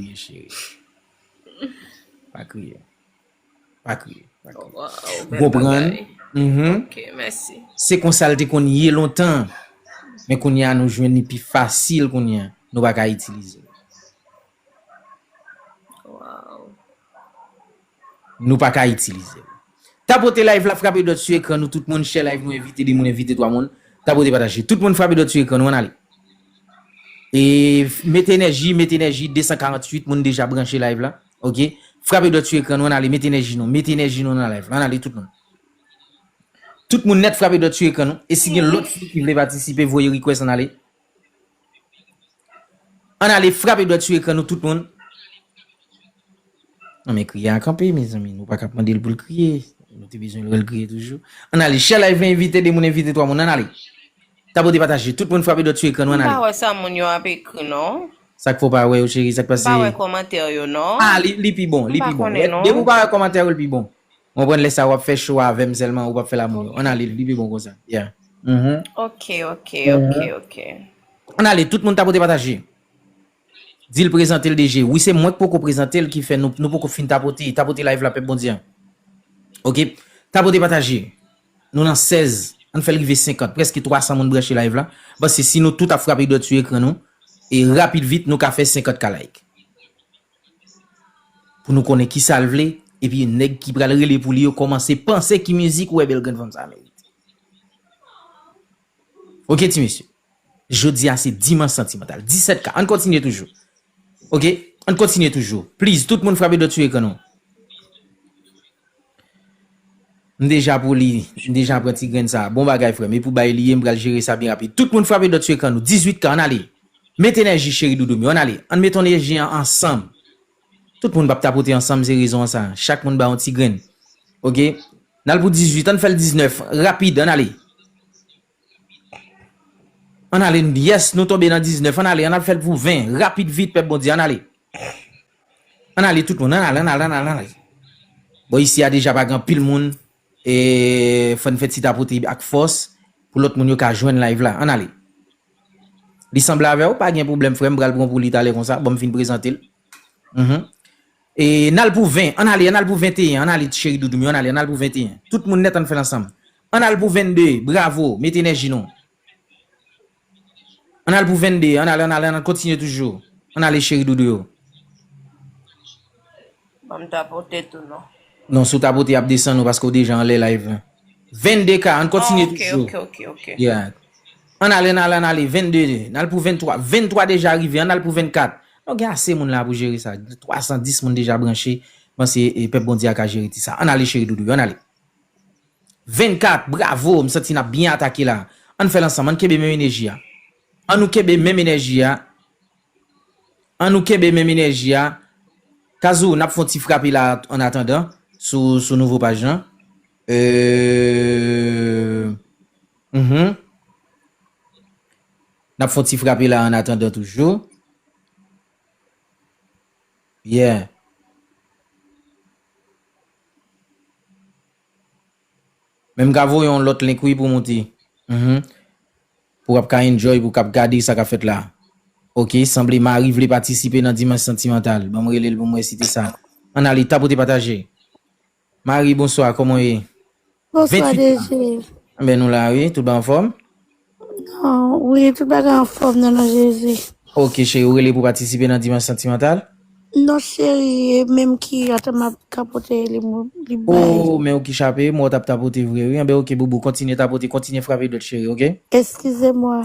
kriye cheri. Pa kriye. Pa kriye. Gopran. Ok, mèsi. Se konsal te kon ye lontan. Men kon ya nou jwen ni pi fasil kon ya. Nou baka itilize. Nou pa ka itilize l. Tapote live la frape dòt su ekran nou tout moun share live nou envite 2 moun envite 3 moun tapote pataje tout moun frape dòt su ekran nou ann ale e mete enèji mete enèji 248 moun deja branche live la ok frape dòt su ekran nou ann ale mete enèji nou mete enèji nou nan live la ann ale tout moun tout moun nèt frape dòt su ekran nou e si gen lòt su ki vle patisipe voye request ann ale. Ann ale frape dwèt sou ekran nou tout moun. Nan men kriye a kanpe mezanmi nou paka ap mandel poul kriye nou te bezwen wèl kriye toujou ann ale share live lan envite 2 moun envite 3 moun ann ale tapote pataje tout moun frape dwèt sou ekran nou ann ale. M pa wè sa moun yo ap ekri non. Sak fè w pa wè yo cheri sak pase. M pa wè kòmantè yo non. Ah li pi bon li pi bon depi w pa wè kòmantè yo li pi bon. Mwen konprann lè sa wap fè show a avèm sèlman ou pap fèl a moun yo. Ann ale li pi bon konsa. Yeah. Uhmm. Ok ok ok ok. Ann ale tout moun ta pote pataje. Dil prezantel DG. Wi se mwen k poko prezantel ki fè nou poko fin tapote. Tapote live la pèp Bondye an. Ok. Tapote pataje. Nou nan 16. Ann fèl rive 50. Prèske 300 moun branche live la. Pase si nou tout ap frape dwèt sou ekran nou. E rapid vit nou ka fè 50 k like. Pou nou konnen kisa l vle, epi nèg ki pral rele pou li yo kòmanse panse ki mizik ou wè bèl grenn fanm sa merite. Ok ti mesye, jodi a se Dimanch Santimantal, 17 ka, ann kontinye toujou. Ok, ann kontinye toujou. Please, tout moun frape dòt sou ekran nou. M deja pou li, m deja pran ti grenn sa. Bon bagay frèm, e pou bay li ye m pral jere sa byen rapid. Tout moun frape dòt sou ekran nou, 18 k ann ale! Met enèji cheri doudoum yo, ann ale, ann met enèji an ansanm. Tout moun pap tapote ansanm se rezon an sa, chak moun ba yon ti grenn. Ok, n al pou 18, ann fè l 19, rapid, ann ale! Ann ale n Yes nou tonbe nan 19 Ann ale ann al fè l pou 20 Rapid vit pèp Bondye Ann ale Ann ale tout moun Ann al ann al ann al ann al Bon isi a deja pa gen anpil moun e fò n fè ti tapote ak fòs pou lòt moun yo ka jwenn live la Ann ale Li sanble avè w pa gen pwoblèm frè m pral pran pou li talè konsa bon m fin prezante l E n al pou 20, an n ale, an n al pou 21, an n ale ti cheri doudou m yo, an n ale, an n al pou 21. Tout moun nèt an n fè l ansanm. An n al pou 22, bravo, mete enèji nou. An n al pou 22, an n ale, an n ale, an n ale, kontinye toujou. An n ale cheri doudou yo. Ban m tapote tou non. Non, si w tapote y ap desann ou paske w deja anlè live lan. 22 ka, an n kontinye toujou. Ok, ok, ok, ok. Yeah. An n ale, an n ale, an n ale, 22, n al pou 23. 23 deja rive, an n al pou 24. Nou gen ase moun la pou jere sa. 310 moun deja branche panse pèp Bondye a ka jere ti sa. Ann ale cheri doudou yo ann ale. 24 bravo m santi nap byen atake la. Ann fèl ansanm ann kenbe menm eneji a. An nou kenbe menm enèji a An nou kenbe menm enèji a Kazou nap fon ti frape la an atandan sou sou nouvo paj lan euh Uhmm N ap fon ti frape la annatandan toujou. Yeah. Men m ka voye yon lòt link wi pou moute. Mph. Pou w ap ka enjoy pou w kab gade sa k ap fèt la. Ok, sanble Marie vle patisipe nan Dimanche Sentimental. Ban m rele l pou m wè si te sa. Ann ale, tapote pataje. Marie bonswa koman w ye? Bonswa DG. Anben nou la wi, tout bagay anfòm? Wi tout bagay anfòm nan non Jezi. Ok cheri ou rele pou patisipe nan dimanche santimantal? Non cheri e menm ki ata map tapote li li bay. Oh men ou ki chape, m wè w tap tapote vre wi anben ok boubou kontinye tapote kontinye frape dwèt cheri ok. Eskize mwa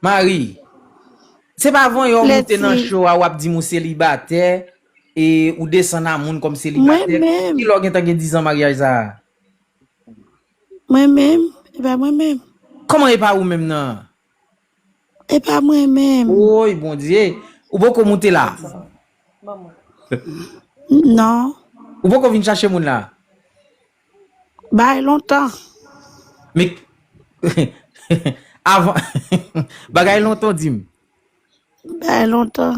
Marie, se pa van yo moute nan show a wap di m ou selibatè e ou desann a moun kòm selibatè. Ki lè w gentan gen 10 ans maryaj sa a? Mwen menm, e pa mwen menm. Kòman e pa ou menm nan? E pa mwen menm. Woy Bondye, ou poko moute la? Non. Ou poko vin chache moun la? Bay lontan. Men avan bagay lontan di m. Bay lontan.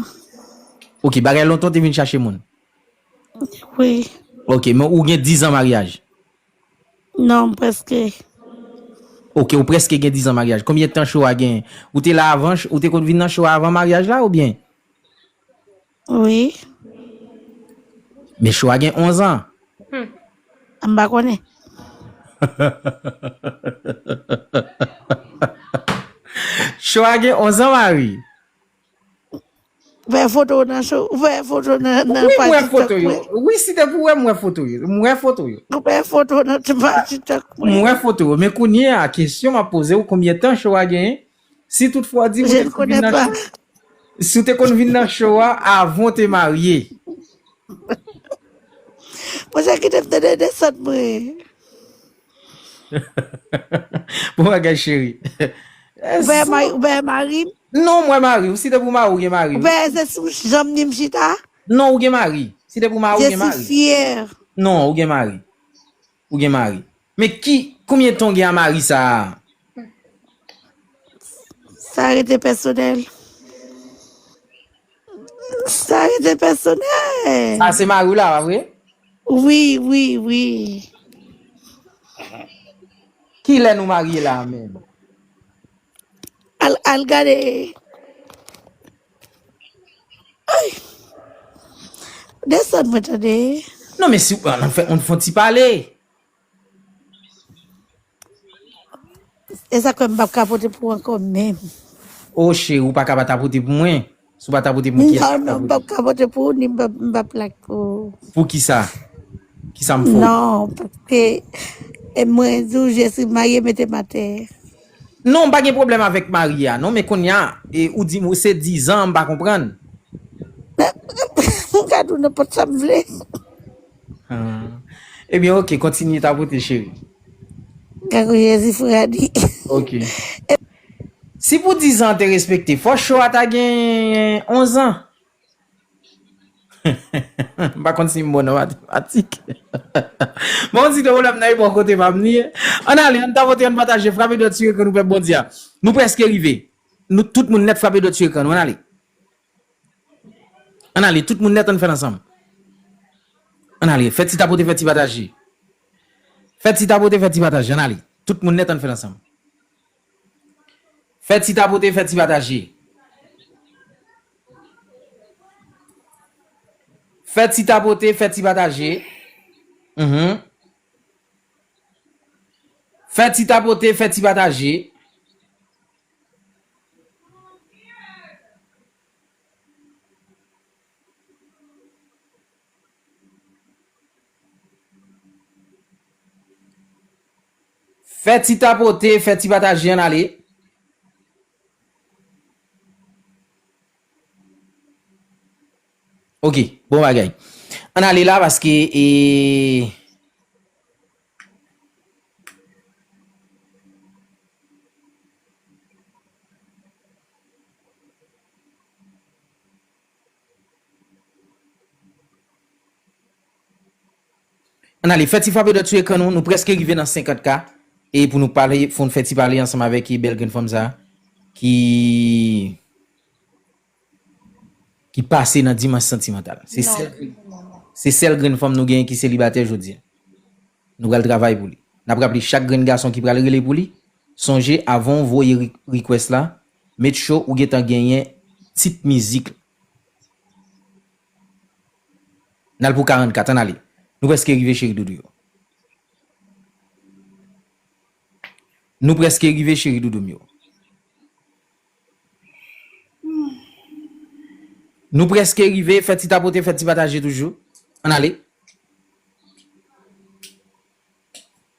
Ok bagay lontan ou te vin chache moun. Wi. Ok men ou gen 10 ans maryaj. Non m preske. Ok ou preske gen 10 ans maryaj. Konbyen tan show a gen? Ou te la avan ou te konn vin nan show a avan maryaj la oubyen? Wi. Men Choua gen 11 an. Humm. M pa konnen. Choua gen 11 an Marie. Wè foto w nan show. Wè foto nan page tiktok mwen. Wi m wè foto yo. Wi si te pou wè m wè foto yo. M wè foto yo. Wè foto nan page tiktok mwen. M wè foto yo. Men kounye a kesyon m ap poze w konbyen tan Choua genyen? Si tout fwa w di wi, si w te konn vin nan cho a avan w te marye. Bon jan kite m tande desann mwen. Bon bagay cheri. Ou veye mari, ou veye mari m? Non mwen mari, si te pou mari ou gen mari. Ou veye se sou janm ni m chita? Non ou gen mari, si te pou mari ou gen mari. Je suis fière. Non ou gen mari. Ou gen mari. Men ki, konbyen tan ou gen a mari sa a? Sa rete pèsonèl. Sa rete pèsonèl. Sa a se mari w la a vre? Wi, wi, wi. Ki lè nou marye la a menm? Al, al gade. Desann mwen tande. Non men si an fè on fon ti pale. E sak fè m pap ka pote pou ankò menm. Oh cheri ou paka pa tapote pou mwen. Si w pa tapote pou mwen kiyès kap tapote. Non non m pap ka pote pou ou ni m pap plak pou ou. Poukisa? Kisa m fè w? Non paske mwen di w je si marye mete m atè. Non m pa gen pwoblèm avèk Marie a non men konnya ou di m se 10 ans m pa konprann. Mwen ka di w nenpòt sa m vle. Ah ebyen ok kontinye tapote cheri. Kangou jezi fou radi. Ok si pou 10 ans te respekte fò show a ta gen 11 ans. M pa konn si m bon nan matematik. Bon, si gen pwoblèm nan epòk kote pa m li. Ann ale, ann tapote, ann pataje, frape dwèt sou ekran nou pèp Bondye a. Nou prèske rive. Nou tout moun nèt frape dwèt sou ekran nou, ann ale. Ann ale, tout moun nèt ann fè l ansanm. Ann ale, fè ti tapote, fè ti pataje. Fè ti tapote, fè ti pataje, ann ale. Tout moun nèt ann fè l ansanm. Fè ti tapote fè ti pataje. Fè ti tapote fè ti pataje uhmm. Fè ti tapote fè ti pataje. Fè ti tapote, fè ti pataje an ale. Ok, bon bagay. An ale la paske e... Ann ale fè ti frape dòt sou ekran nou, nou prèske rive nan 50 k e pou nou pale fò n fè ti pale ansanm avèk bèl grenn fanm sa ki ki pase nan dimans santimantal se sèl grenn fanm nou genyen ki selibatè jodi a nou pral travay pou li n ap raple chak grenn gason ki pral rele pou li sonje avan w voye request la Metcho ou gentan genyen tit mizik la. N al pou 44 ann ale. Nou preske rive cheri doudou yo. Nou preske rive cheri doudou m yo. Nou preske rive fè ti tapote fè ti pataje toujou. Ann ale.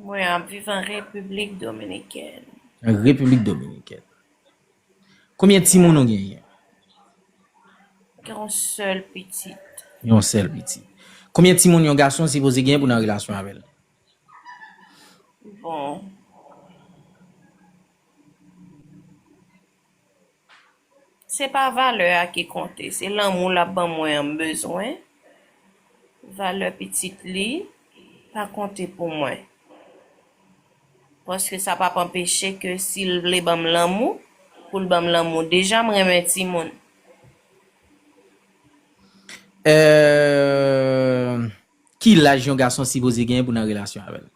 Mwen ap viv an Repiblik Dominikèn. An Repiblik Dominikèn. Konbyen timoun ou genyen? Mwen gen yon sèl pitit. Yon sèl pitit. Konbyen timoun yon gason sipoze genyen pou nan relasyon avè l? Bon. Se pa valè a ki konte, se lanmou l ap ban mwen an m bezwen. Valè pitit li pa konte pou mwen. Paske sa pa p anpeche ke si l vle ban m lanmou, pou l ban m lanmou. Deja m renmen timoun. Ki laj yon gason sipoze genyen pou nan relasyon avè l?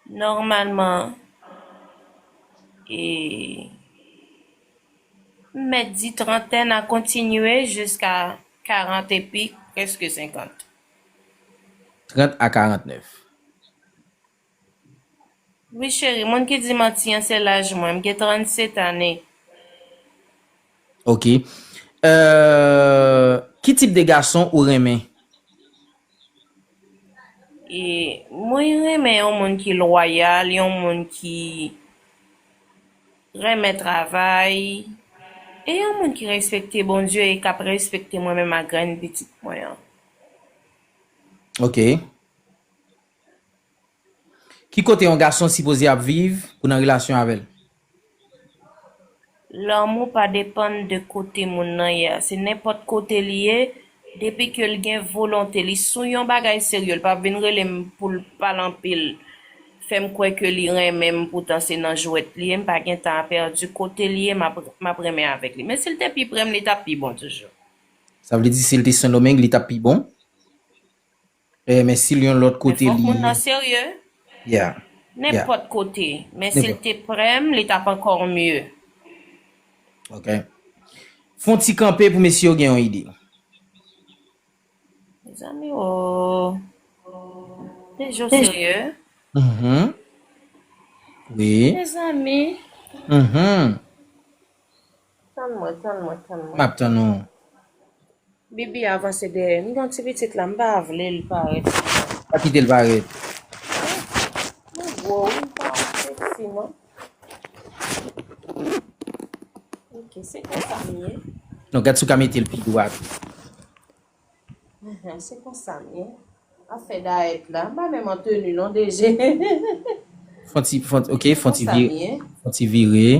Nòmalman e m mèt di trantèn a kontinye jiska karant epi prèske senkant. Trant a karantnèf. Wi cheri, moun ki di manti an se laj mwen, m gen trannset ane. Ok. Euh, ki tip de gason ou renmen? E mwen renmen yon moun ki lwayal, yon moun ki renmen travay, e yon moun ki respekte Bondye e k ap respekte mwen menm ak grenn pitit mwen an. Ok. Ki kote yon gason sipoze ap viv pou nan relasyon avè l? Lanmou pa depann de kote moun nan ye a. Se nenpòt kote li ye, depi ke l gen volonte, li sou yon bagay serye, l pap vin rele m pou l pale anpil, fè m kwè ke li renmen m poutan se nan jwèt li ye, m pa gen tan a pèdi, kote li ye m ap renmen avèk li. Men si l te pi pre m li t ap pi bon toujou. Sa vle di si l te Sendomeng li t ap pi bon? Eh men sil yon lòt kote li. Men fòk moun nan serye. Yeah. Nenpòt kote. Men sil te prem li tap ankò mye. Ok. Fon ti kanpe pou mesye yo gen yon ide. Mezanmi ooh. Te jo serye. Uhmm. Wi. Mezanmi. Uhmm. Tann mwen, tann mwen, tann mwen. Map tann ou. Bibi avanse dèyè. M gon ti pitit la m pa vle l parèt anko. Pa kite l parèt. Mwen gwo wi m pa sexy non. Ok se konsa m ye. Non gad si w ka mete l pi dwat. Se konsa m ye. Ap fè dayèt la. M pa menm an tenu non DG. Fon ti ok fon ti vire.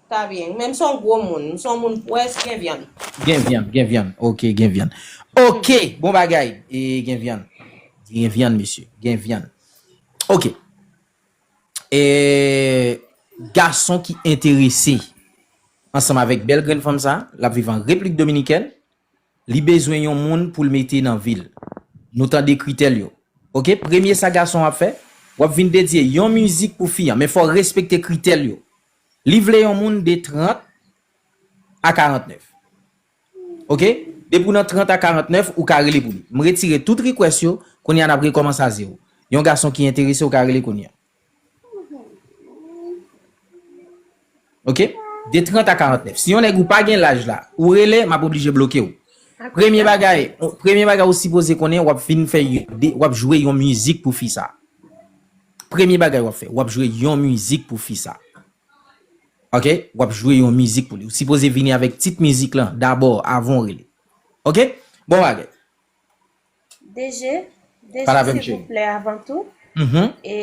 Ta byen. Men m son gwo moun. M son moun pwès gen vyann. Gen vyann, gen vyann. Ok, gen vyann. Ok! Bon bagay! E gen vyann. Gen vyann mesye. Gen vyann. Ok. E gason ki enterese ansanm avèk bèl grenn fanm sa, l ap viv an Replik Dominikèn, li bezwen yon moun pou l mete nan vi l. Nou tande kritè l yo. Ok, premye sa gason an ap fè, w ap vin dedye yon mizik pou fi an. Men fò w respekte kritè l yo. Li vle yon moun de 30 a 49. Ok depi w nan 30 a 49 ou ka rele pou li. M retire tout request yo, kounya nap rekomanse a zero. Yon gason ki enterese ou ka rele kounya. Ok de 30 a 49. Si yon nèg ou pa gen laj la ou rele map oblije bloke w. Premye bagay premye bagay ou sipoze konnen wap fin fè wap jwe yon mizik pou fi sa. Premye bagay wap fè wap jwe yon mizik pou fi sa ok wap jwe yon mizik pou li ou sipoze vini avèk tit mizik lan dabò avan ou rele ok bon bagay. DG, DG silvouplè avan tou e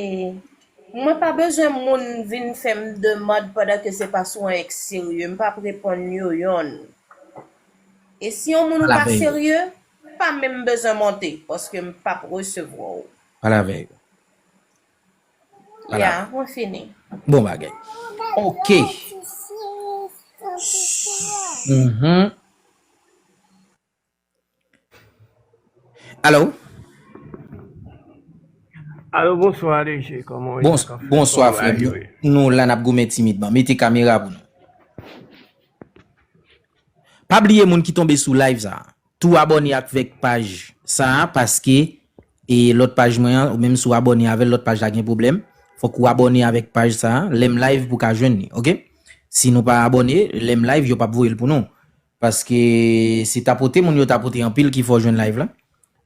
mwen pa bezwen moun vin fèm demand pandan ke se pa sou anyen k serye m pap reponn yo yonn e si yon moun ou pa serye pa menm bezwen monte paske m pap resevwa w. Palavè yo. Ya, mwen fini. Bon bagay. Ok. Alo. Alo, bonswa DG. Koman ou ye? Bonswa frè. Nou la nap goumen timidman. Mete kamera pou nou. Pa bliye moun ki tonbe sou live sa a. Tou abòne akvek paj sa a paske e lòt paj mwen an ou menm si w abòne avèl lòt paj la gen pwoblèm fòk ou abòne avèk paj sa a lèm live pou ka jwenn li ok si nou pa abòne lèm live yo pap voyel pou nou paske se tapote moun yo tapote anpil ki fè w jwenn live la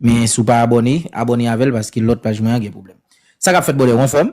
men si w pa abòne abòne avèl paske lòt paj mwen an gen pwoblèm sa kap fèt bòdè ou anfòm.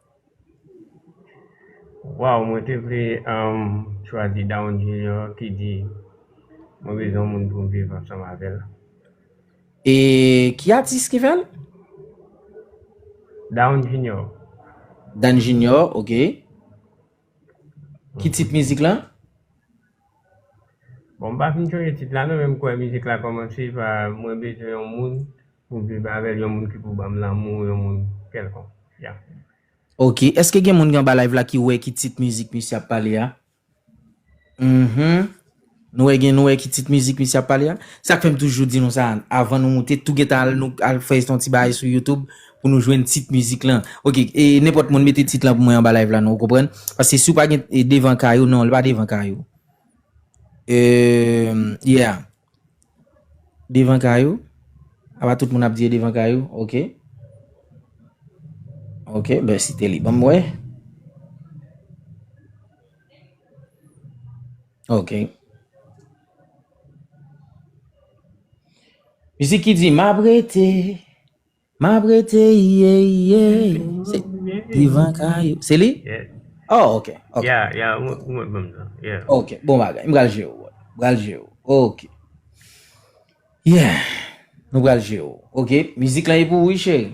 Waw mwen te vle chwazi Down Junior ki di mwen bezwen yon moun pou m viv ansanm avèl. E ki atis ki fèl? Down Junior. Down Junior ok. Ki tit mizik la? Bon m pa fin sonje tit la non men m kwè mizik la kòmanse pa mwen bezwen yon moun pou viv avèl yon moun ki pou banm lanmou yon moun kèlkonk ya. Ok eske gen moun ki anba live la ki wè ki tit mizik misye ap pale a? Uhmm. Nou wè gen nou wè ki tit mizik misye ap pale a? Se sak fèm toujou di nou sa avan nou moute tou gentan al nou al fè yon ti bagay sou YouTube pou nou jwenn tit mizik lan ok e nenpòt moun mete tit lan pou mwen anba live la non ou konprann paske si ou pa gen devan kay ou non li pa devan kay ou eeumm yeah devan kay ou apa tout moun ap di e devan kay ou ok ok ben site li banm wè. Ok. Mizik ki di map rete, map rete iye iye. Se Yvan Caillou. Se li? Yeah. Oh, ok. ok. Yeah, yeah, ou ou mwen bom nan. Yeah. Ok, bon bagay. M pral jwe ou. M pral jwe ou. Ok. Yeah. Nou pral jwe ou. Ok, mizik la e pou ou, wi cheri.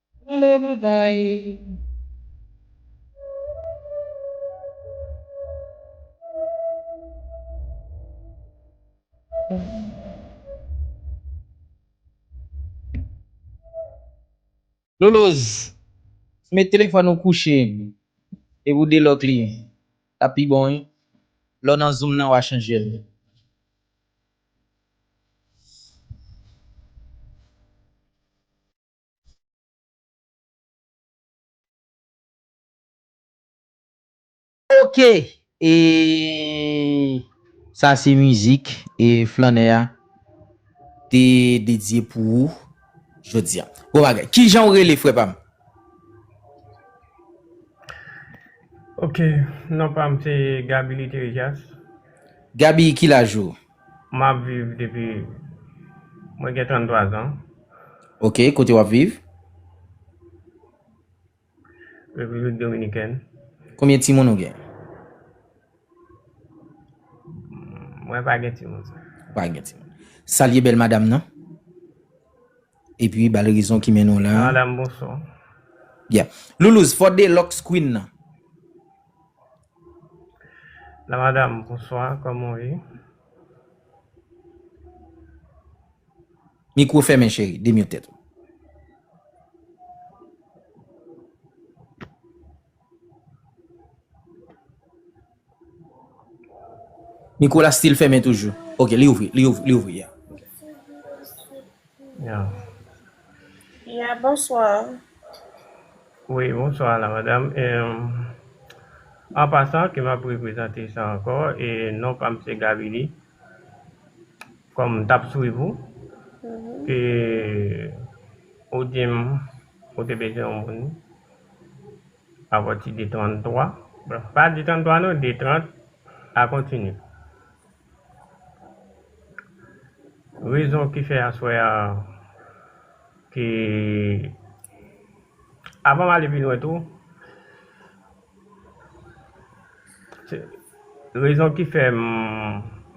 Gade bagay Loloz met telefòn ou kouche epi ou delòk li tap pi bon wi lè w nan zoom nan wa chanje l. Ok ee sa se mizik flannè a te dedye pou ou jodi a. Bon bagay. Kijan ou rele frè pa m? Ok, non pa m se Gaby Literejas. Gaby ki laj ou? Map viv depi Mwen gen 33 ans. Ok kote wap viv? République dominicaine. Konbyen timoun ou gen? Mwen pa gen timoun sa. Ou pa gen timoun. Salye bèl madam nan. E pi bal rezon ki mennen w la. Madam bonsoir. Yeah. Loulouse, fò Deluxe Queen nan. La madame bonswa koman ou ye. Mikwo fèmen cheri, demute tèt ou. Mikwo la still fèmen toujou. Ok li ouvri, li ouvri, li ouvri yeah. Ya bonsoir. Wi bonsoir la madam an pasan ke map reprezante sa ankò e non pam se Gavili kòm m tap swiv ou ke ou dim ou te bezwen yon moun apati de 33 pa de 33 non de 30 a kontini. Rezon ki fè aswè a te Avan m ale pi lwen tou Rezon ki fè m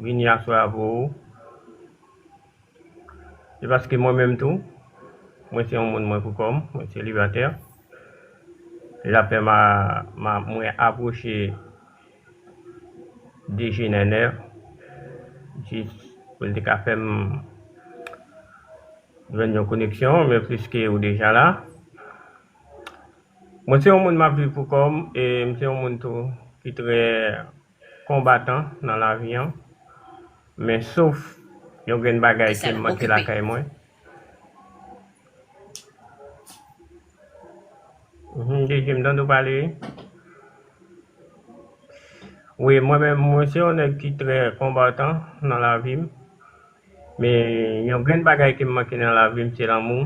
vini aswè a pou ou Se paske mwen menm tou Mwen se yon moun mwen pou kò m Mwen selibatè Lapè m a Mwen apwoche Deje nènè jis pou l te ka fè m jwenn yon koneksyon men pliske ou deja la mwen se yon moun m ap viv pou kò m e m se yon moun tou ki trè konbatan nan lavi an men sof yon grenn bagay ke m manke lakay mwen. Mwen se yon nèg ki trè konbatan nan lavi m, men yon grenn bagay ke m manke nan lavi m se lanmou,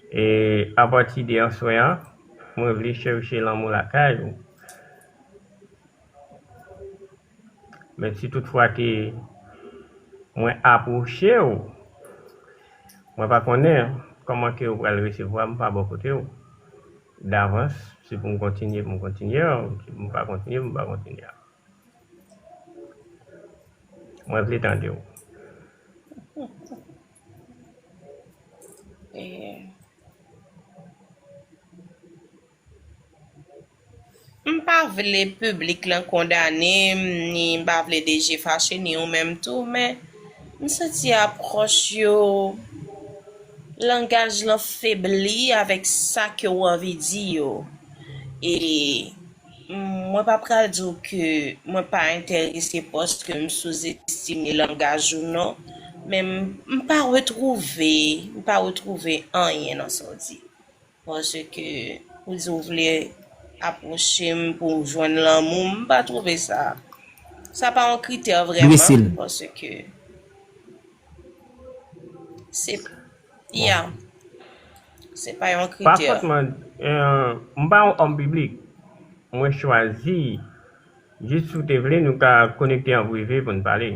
e apati de answen an, mwen vle chèche lanmou lakay ou. Men si tout fwa ke mwen apwoche ou, mwen pa konnen kòman ke ou pral resevwa m pa bò kote ou. Davans, si pou m kontinye, pou m kontinye a, si pou m pa kontinye, pou m pa kontinye a. Mwen vle tande ou. M pa vle piblik lan kondane m ni m pa vle DG fache ni ou menm tou men m santi apwòch yo langaj lan febli avèk sa ke ou anvi di yo e mwen pa pral di w ke mwen pa enterese paske m souzestime langaj ou non men m pa retwouve m pa retwouve anyen nan sa w di. Paske ou di ou vle apwoche m pou w jwenn lanmou m, m pa twouve sa. Sa pa yon kritè vrèman paske se, ya, se pa yon kritè. Pakont mwen, m pa yon òm piblik. Mwen chwazi, jis si w te vle nou ka konekte an prive pou n pale.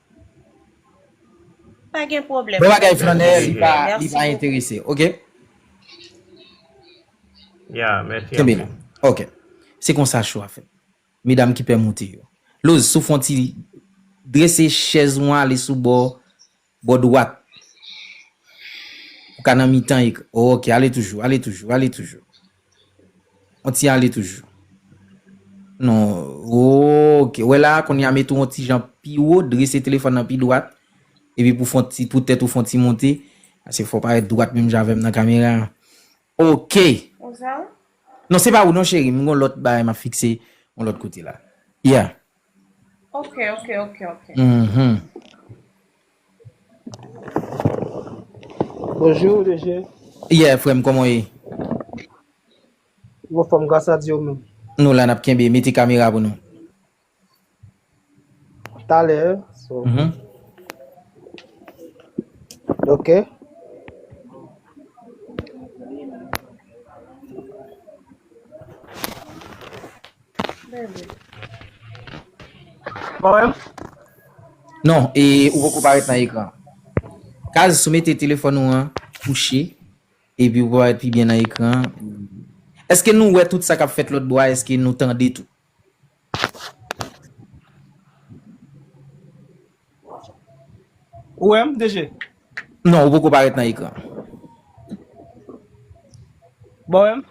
Pa gen pwoblèm. Bon bagay flannè li pa li pa enterese ok. Ya mèsi anpil. Kenbe la ok se konsa cho a fèt medam ki pè moute yo. Lose sou fon ti drese chèz ou an ale sou bò bò dwat pou ka nan mitan ekran ok ale toujou ale toujou ale toujou. On ti ale toujou. Non, ok. Wè la, kounye a mete on ti jan pi wo, drese telefòn nan pi dwat. E pi pou fon ti, pou tèt ou fon ti monte. Ase fò parèt dwat menm jan avèm nan kamera. Ok! Ou sa ou? Non, se pa ou non cheri, m gon lòt bagay map fikse on lòt kote la. Yeah. Ok, ok, ok, ok. Mh. Bonjour DG. Yeah frèm kòman w ye? M anfòm gras a Dye ou menm? Nou la nap kenbe, mete kamera pou nou. Talè so. Ok. Non, e ou poko parèt nan ekran. Kaz sou mete telefòn ou an kouche, epi ou parèt pi byen nan ekran. Eske nou wè tout sa kap fèt lòt bò a, eske nou tande tou? Ou wè m DG? Non ou poko parèt nan ekran. Bon wè m?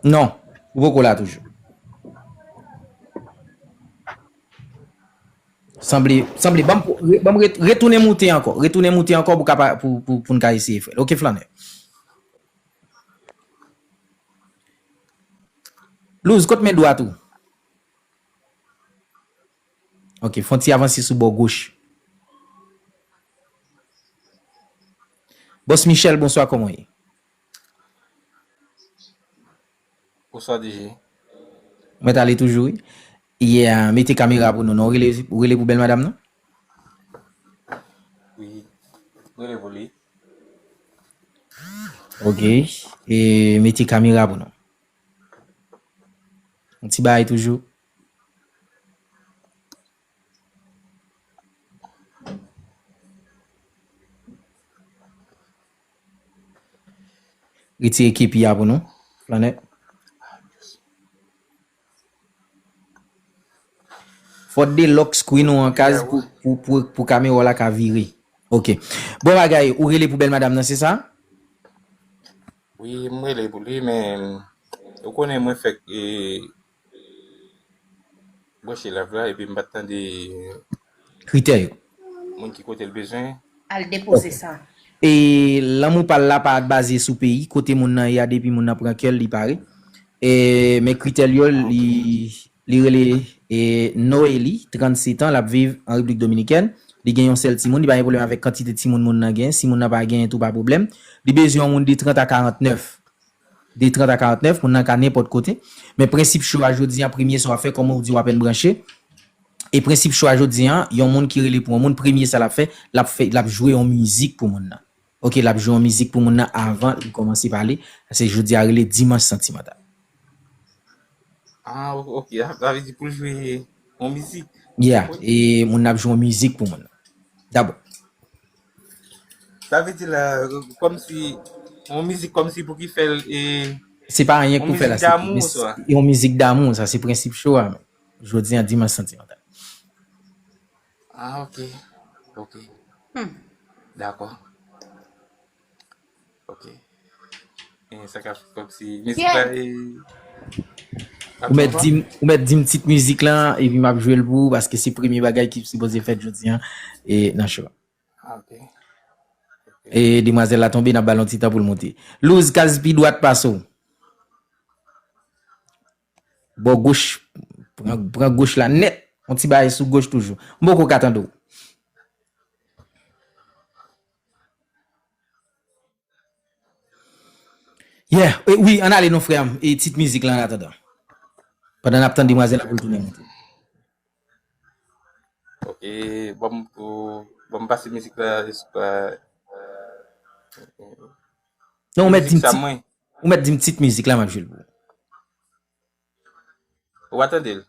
Non, ou poko la toujou. Sanble, sanble banm banm retounen moute ankò, retounen moute ankò pou kapa pou pou poun ka eseye fèl ok flannè. Luz kot men dwat ou? Ok fon ti avanse sou bò goch. Bòs Michel bonswa kòman w ye? Bonswa DG. Ou mèt ale toujou wi. Yeah mete kamera pou nou non. Ou rele pou bèl madam nan? Wi m rele pou li. Ok mete kamera pou nou. Yon ti bagay toujou. Retire kepi a pou nou. Planet. Fòt de lock screen ou an kaz pou kamera ou la ka vire. Ok. Bon bagay, ou rele pou bèl madam nan, se sa? Wi, mwen rele pou li, men, ou konnen mwen fèk e... Broche live la epi m pa tande kritè yo. Moun ki kote l bezwen. Al depoze sa. E lanmou pa l la pa baze sou peyi kote moun nan ye a depi moun nan pran kè l li pare. E men kritè l yo li rele Noely 37 an l ap viv an Repiblik Dominikèn li gen yon sèl timoun li pa gen pwoblèm avèk kantite timoun moun nan gen si moun nan pa genyen tou pa pwoblèm li bezwen yon moun de 30 a 49. De 30 a 49, moun nan ka nenpòt kote. Men prensip show a jodi an premye sa wap fè kòm ou di wap en branche. E prensip show a jodi an, yon moun ki rele pou yon moun premye sa lap fè, lap fè lap jwe yon mizik pou moun nan. Ok lap jwe yon mizik pou moun nan avan li kòmanse pale. Pase jodi a rele dimanch santimantal. Ah ok, sa vle di poul jwe yon mizik. Yeah, e moun nan ap jwe yon mizik pou moun nan. Dabò. Sa vle di la komsi yon mizik komsi pou ki fèl e. Se pa anyen pou fè la se yon mizik damou sa se prensip show a jodi an dimanche santimantal. Ah ok ok dakò. Ok. E sa ka fè kòm si mizik la e Ou mèt di m, ou mèt di m tit mizik la epi map jwe l pou ou paske se premye bagay ki sipoze fèt jodi an e nan cho a. Ah, ok. E demwazèl la tonbe nap ba l yon ti tan pou l monte. Luz, kaz pi dwat pase w. Bò goch, pran goch la nèt. Yon ti bagay sou goch toujou. M poko ka tande w. Yeah, wi, ann ale non frè m. E tit mizik la ann atandan. Pandan n ap tann demwazèl la pou l tounen monte. Ok, banm banm pase mizik la esp. Non ou mèt di m ti. Ou mèt dim tit mizik la map jwel pou ou. Ou pa tandel?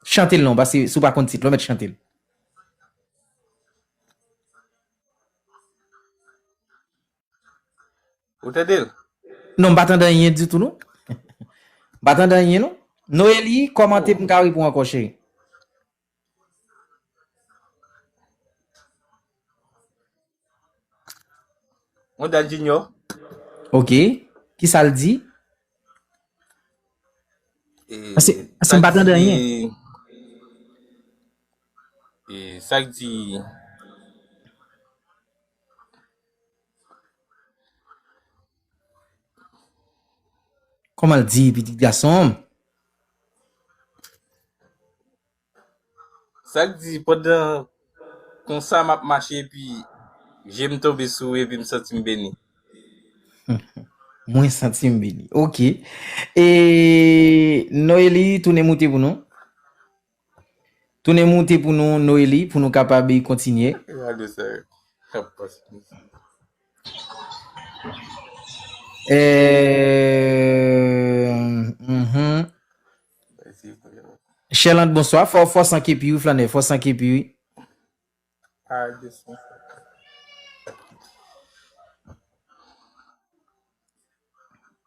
Chantel non paske si ou pa konn tit la ou mèt chantel. Ou tandel? Non m pa tande anyen ditou non. M pa tande anyen non. Noelie kòmante pou m ka repon ankò cheri. Mwen dan Junior. Ok. Ki sa l di? Ase, ase m pa tande anyen. E, sa k di... Koman l di, pitit gason? Sa k di pandan konsa m ap mache epi je m tonbe sou ou epi m santi m beni. Mwen santi m beni. Ok. E Noelie tounen moute pou nou. Tounen moute pou nou Noeli pou nou kapab kontinye. Gade sa kap pase mesye. Sherlande bonswa fò fò san kepi wi flannè fò san kepi wi.